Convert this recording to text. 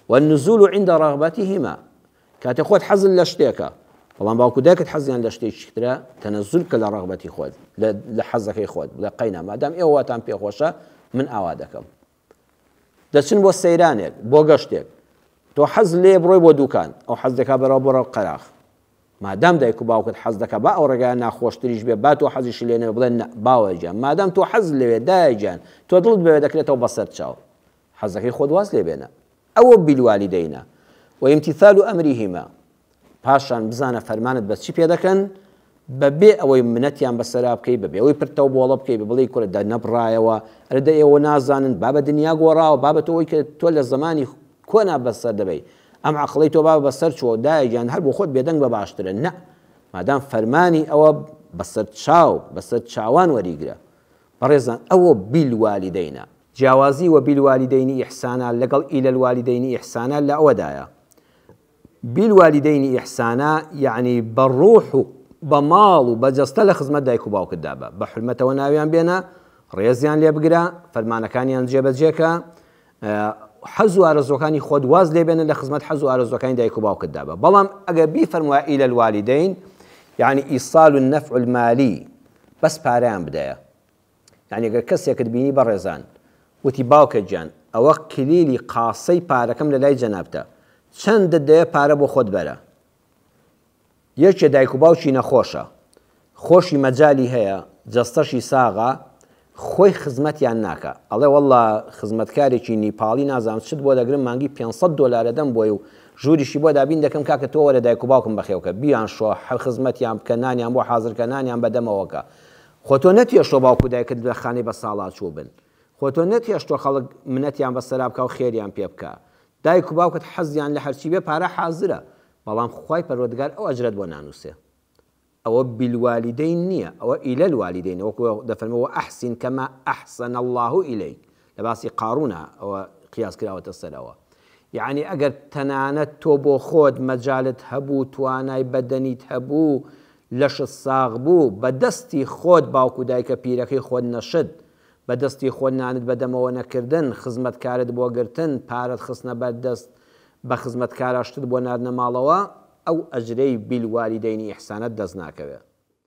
والنزول عند رغبتهما کاتێ خۆت حەزت لە شتێکە بەڵام باوکو دایکت حەزیان لە شتێکی ترە تەنەزول کە لە ڕغبەتی خۆت لە حەزەکەی خۆت لە قەینا مادام ئێوەتان پێخۆشە من ئاوا دەکەم دەچن بۆ سەیرانێک بۆ گەشتێک تۆ حەز لێ بڕۆی بۆ دوکان ئەو حەز دەکا بەرەوە بڕە قەراخ مادام دایک و باوکت حەز دەکە با ئەو ڕێگای ناخۆشتریش بێ با تۆ حەزیش لێنێ بڵێن باوەجان مادام تۆ حەز لەوێ دایجان تۆ دڵت بەوێ دەکرێتەوە بەسەر چاو حەزەکەی خۆت واز لێ بێنە. ئە وە بالوالدین و امتثال امرهما پاشان بزانە فەرمانت بە چی پێ دەکەن بە بێ ئەوەی منەتیان بەسەرا بکەی بە بێەوەی پرتەو بۆڵە بکەی بە بڵی کورە دە نەبڕایەوە ئەرە دە ئێوە نازانن بابە دنیا گۆڕاوە بابەت ئەوەی کە تۆ لە زمانی کۆنا بەسەر دەبی ئەم عقڵی تۆ بابە بەسەر چۆ دایگیان هەر بۆ خۆت بێدەنگ بە باشترە نە مادام فەرمانی ئەوە بەسەر چاو بەسەر چاوان وەریگرە بەڕێزان ئەوە بیلوالیدەینە جیاوازی وبالوالدین احسانا لەگەڵ الی الوالدین احسانا لە ئەوەدایە بالوالدین احسانا یەعنی بە ڕوح و بە ماڵ و بە جەستە لە خزمەت دایک و باوکتدا بە، بە حورمەتەوە ناویان بێنە، ڕێزیان لێ بگرە، فەرمانەکانیان جێبەجێکە، حەز و ئارەزووەکانی خۆت واز لێ بێنە لە خزمەت حەز و ئارەزووەکانی دایک و باوکتدا بە، بەڵام ئەگەر بیفەرموایە الی الوالدین یەعنی ایصال النفع المالی بەس پارەیان بدەیە، یانی گەر کەسێکت بینی بەڕێزان وتی باوکە گیان ئەوە کلیلی قاسەی پارەکەم لە لای جەنابتە چەندت دەوێ پارە بۆ خۆت بەرە یەکێ دایک و باوکی نەخۆشە خۆشی مەجالی هەیە جەستەشی ساغە خۆی خزمەتیان ناکە ئەڵێ واللە خزمەتکارێکی نیپاڵی نازانم چت بۆ دەگرم مانگی 500 دلارە دەم بۆی و ژووریشی بۆ دابین دەکەم کاکە تۆ وەرە دایک و باوکم بەخێوکە بیان شۆ هەر خزمەتیان بکە نانیان بۆ حازرکە نانیان بەدەمەوەکە خۆ تۆ نەتهێشتووە باوک و دایکت لە خانەی بەساڵاچوو بن، خۆ تۆ نەتهێشتووە خەڵک منەتیان بەسەرا بکا و خێریان پێ بکا. دایک و باوکت حەزیان لە هەرچی بێ پارە حازرە، بەڵام خوای پەروەردگار ئەو ئەجرەت بۆ نانووسێ. ئەوە بالوالدین نییە، ئەوە الی الوالدینە، وەکو دەفەرمێ، وەئەحسین کەما ئەحسەنە اللە الیک، لە باسی قارونە ەوە قیاس کراوەتە سەرەوە یەعنی ئەگەر تەنانەت تۆ بۆ خۆت مەجالت هەبوو توانای بەدەنیت هەبوو لەشت ساغ بوو بە دەستی خۆت باوک و دایکە پیرەکەی خۆت نەشت بە دەستی خۆت نانت بە دەمەوە نەکردن خزمەت کارت بۆ گرتن پارەت خستنە بەر دەست بە خزمەت کارا شتت بۆ ناردنە ماڵەوە ئەو ئەجرەی بالوالدین احسانەت دەست ناکەوێ.